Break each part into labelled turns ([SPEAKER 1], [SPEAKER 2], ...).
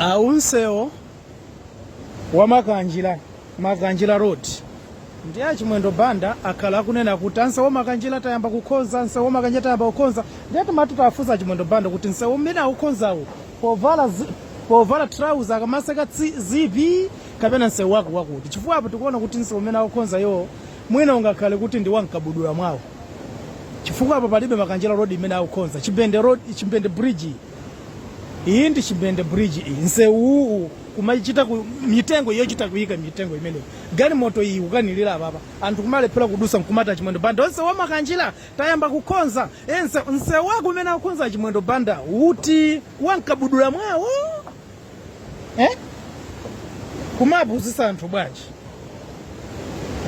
[SPEAKER 1] a nsewu wa makanjira makanjira road ndi achimwendo banda akhala akunena kuti a nsewu wa makanjira tayamba kukhonza a nsewu wa makanjira tayamba kukhonza ndiye timati tafunsa achimwendo banda kuti nsewu umene akukhonzawo povala zi- povala trauza akamaseka tsi- zipi kapena nsewu wake wakuti chifukwa apo tikuona kuti nsewu umene akukhonza iwo mwina ungakhale kuti ndi wamkabudula mwawo chifukwa apa palibe makanjira road imene akukonza chimbende road chimbende bridge iyi. iyi ndi chimbende bridge iyi nsewuwu kumachita ku mitengo yochita kuyika mitengo imeneyi galimoto iyi kukanilira apapa anthu kumalephera kudusa nkumata chimwendo banda a nsewu wa makanjira tayamba kukonza ense nsewu wake umene akukonza chimwendo banda uti wankabudula mwawo eh? kumapusisa anthu bwanji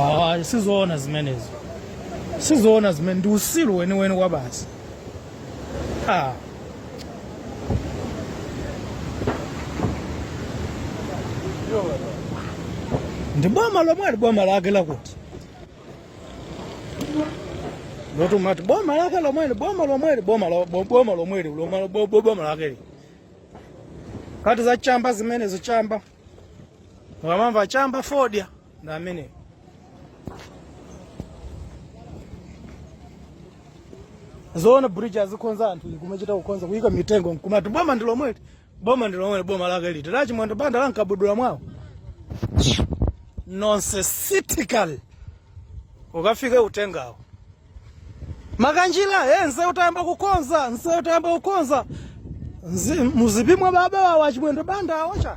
[SPEAKER 1] ah, sizoona zimenezo sizoona zimene ndi usilu weniweni wa basi ah. ndi boma lomweli boma lake lakuti lotimati boma lake lomweli boma lomweli boma lomweli boma lake kati za chamba zimenezo chamba mukamamva chamba fodya nameneyu zoona bridge azikhonza anthu kumachita kukhonza kuyika mitengo nkumati boma ndi lomweli boma ndi lomweli boma lake liti lachimwendo banda lankabudula mwawo nonsensical ukafike utengawo makanjila e eh, nseu tayamba kukonza nseu tayamba kukonza muzipi mwa baba wawa chimwendo banda awocha